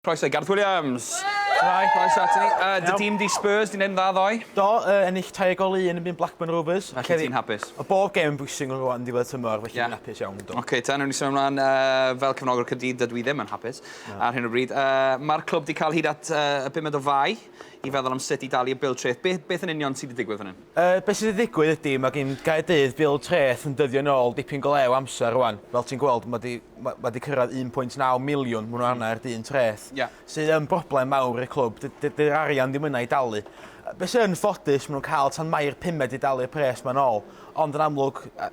Croeso i Gareth Williams! Shwmae, croeso ato ni. Yy, dy dîm di Spurs, di'n neud yn dda ddoe? Do, yy, ennill tair gol i un yn byn Blackburn Rovers. Felly ti'n hapus? O bob gêm yn bwysig yn rwan diwedd tymor, felly fi'n hapus iawn, do. Ocê ta, newn ni symud ymlan. Yy, fel cefnogwr Caerdydd, dydw i ddim yn hapus ar hyn o bryd. Yy, ma'r clwb di ca'l hyd at yy y bumed o fai. i feddwl am sut i dalu y bil treth. Be, beth yn union sydd wedi digwydd fan hyn? Yy, beth sydd wedi digwydd ydi, mae gin Gaerdydd bil treth yn dyddio yn ôl dipyn go lew o amser rwan. Fel ti'n gweld, mae wedi ma- ma 'di cyrraedd 1.9 miliwn, maen nhw'n hmm. arna i'r dyn treth, yeah. sydd yn broblem mawr i'r clwb. Dydy'r arian ddim yna i dalu. Yy, Be sy'n ffodus, maen nhw'n cael tan mai'r pumed i dalu'r pres ma'n ôl. Ond yn amlwg, yy,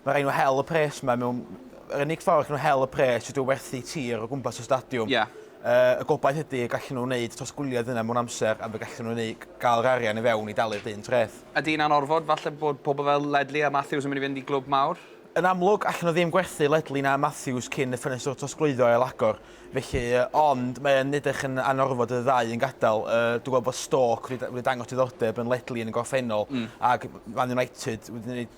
mae rhaid nhw hel y pres yma mewn... Yr unig ffordd allan nhw hel y pres ydyw werthu tir o gwmpas y stadiwm. Yeah. Y gobaith ydy y gallen nhw wneud trosglwyddiad yna mewn amser a fe gallen nhw neu gael yr arian i fewn i dalu'r dyn treth. Ydy hynna'n orfod? Falle bod pobl fel Ledley a Matthews yn mynd i fynd i glwb mawr? Yn amlwg, allen nhw ddim gwerthu Ledley na Matthews cyn y ffenestr trosglwyddo ailagor, felly, ond mae yn edrych yn anorfod i'r ddau un gadael. Dwi'n gweld bod Stoke wedi dangos diddordeb yn Ledley yn y gorffennol ac Man United wedi gwneud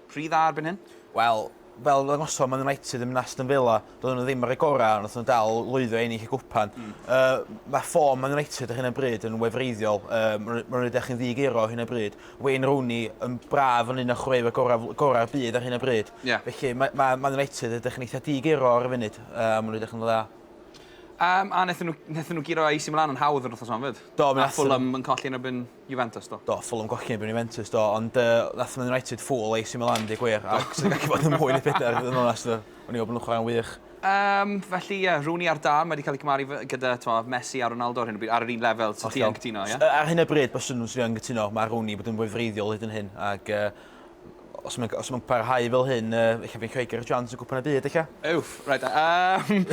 Rhy dda erbyn hyn? Wel, fel ddangosodd Man United yn Aston Villa, doedden nhw ddim ar eu gorau, ond wnaethon nhw dal lwyddo i ennill y gwpan. Yy, mae ffom Man United ar hyn o bryd yn wefreiddiol, yy, maen nhw'n edrych yn ddi-egluro ar hyn o bryd. Wayne Rooney yn braf yn un o chwaraewyr gorau, gorau'r byd ar hyn o bryd. Yeah. Felly, mae, mae Man United edrych yn eitha di-egluro ar y funud, yy, a maen nhw'n edrych yn dda. Um, a wnaethon nhw, wnaethon nhw giro AC Milan yn hawdd yr wythnos yma, fyd? Do, mi Nath Fulham yn colli yn erbyn Juventus do. Do, Fulham golli erbyn Juventus do, ond yy nath Man United fool AC Milan deu gwir, ac sy'n gallu bod yn mwy na phedair i fod yn onest, o'n i'n meddwl bod nhw'n chwarae'n wych. Yym, felly ie, Rooney ar dân, mae 'di cael ei cymaru gyda, t'mod, Messi a Ronaldo ar hyn o bryd, ar yr un lefel, so ti yn cytuno, ie? Ar hyn o bryd, byswn, 'swn i yn cytuno, ma' Rooney 'di bod yn fwy wreiddiol hyd yn hyn, ag yy Os mae'n os mae'n parhau fel hyn, uh, eich fi'n creu gyda'r Johns yn gwpan y byd, eich? Uff, rhaid. Um,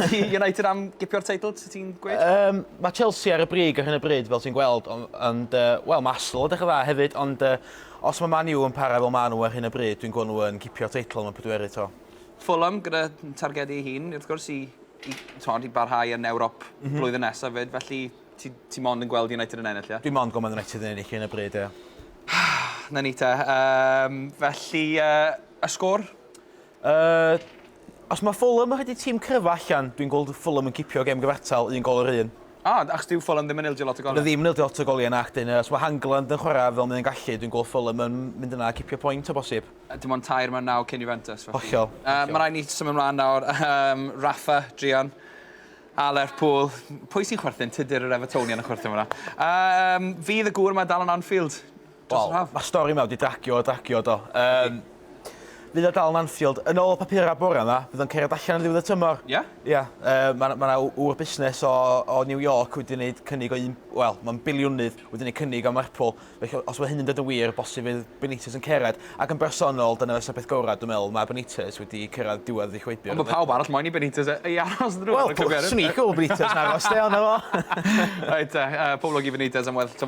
ydy United am gipio'r teitl, sy'n ti'n gweud? Um, mae Chelsea ar y brig ar hyn y bryd, fel ti'n gweld, ond, ond uh, wel, mae Arsenal yn dechrau dda hefyd, ond uh, os mae Man U yn para fel maen nhw ar hyn y bryd, dwi'n gwneud nhw'n cipio'r teitl yn y pedwerydd to. Fulham gyda targedu ei hun, wrth gwrs, i, i, tod, i barhau yn Ewrop mm -hmm. blwyddyn nesaf fyd, felly Ti, ti mond yn gweld United yn ennill, ie? Dwi mond yn gweld Man United yn ennill yn y bryd, ie. 'Na ni te. Um, felly, uh, y sgôr? Uh, os mae Fulham yn rhaid tîm cryfa allan, dwi'n gweld Fulham yn cipio gem gyfartal, un gol yr un. Ah, achos dyw Fulham ddim yn ildio lot o goliau? Ddim yn ildio lot o goliau na, ac dyn, os mae Hangland yn chwarae fel mae'n gallu, dwi'n gweld Fulham yn mynd yna a cipio pwynt o bosib. Dim ond tair mae'n naw cyn Juventus. Hollol. Uh, mae rhaid ni symud ymlaen nawr. Um, Rafa, Drian. A Lerpwl. Pwy sy'n chwerthin? Tudur yr Evertonian yn chwerthin fan'na. Yym, fydd y gŵr yma dal yn Anfield dros yr haf? Wel, ma'r stori 'ma wedi dragio a dragio, do. Yym, fydd o dal yn Anfield? Yn ôl y papura' bore 'ma, bydd o'n cerdded allan ar ddiwedd y tymor. Ie? Ie. Yy, ma' 'na ma' 'na ŵr busnes o o New York wedi neud cynnig o un... Wel, ma'n biliwnydd, wedi neud cynnig am Lerpwl. Felly, os mae hyn yn dod yn wir, bosib fydd Benitez yn cyrraedd, ac yn bersonol, dyna fysa'r peth gorau, dwi'n meddwl, mae Benitez wedi cyrraedd diwedd ei chwibio. Ond mae pawb arall moyn i Benitez ei aros yn y Wel, swn i'n gwybod Benitez yn aros, de, ond 'na fo. Reit te, pob lwc i Benitez am weddill tymor.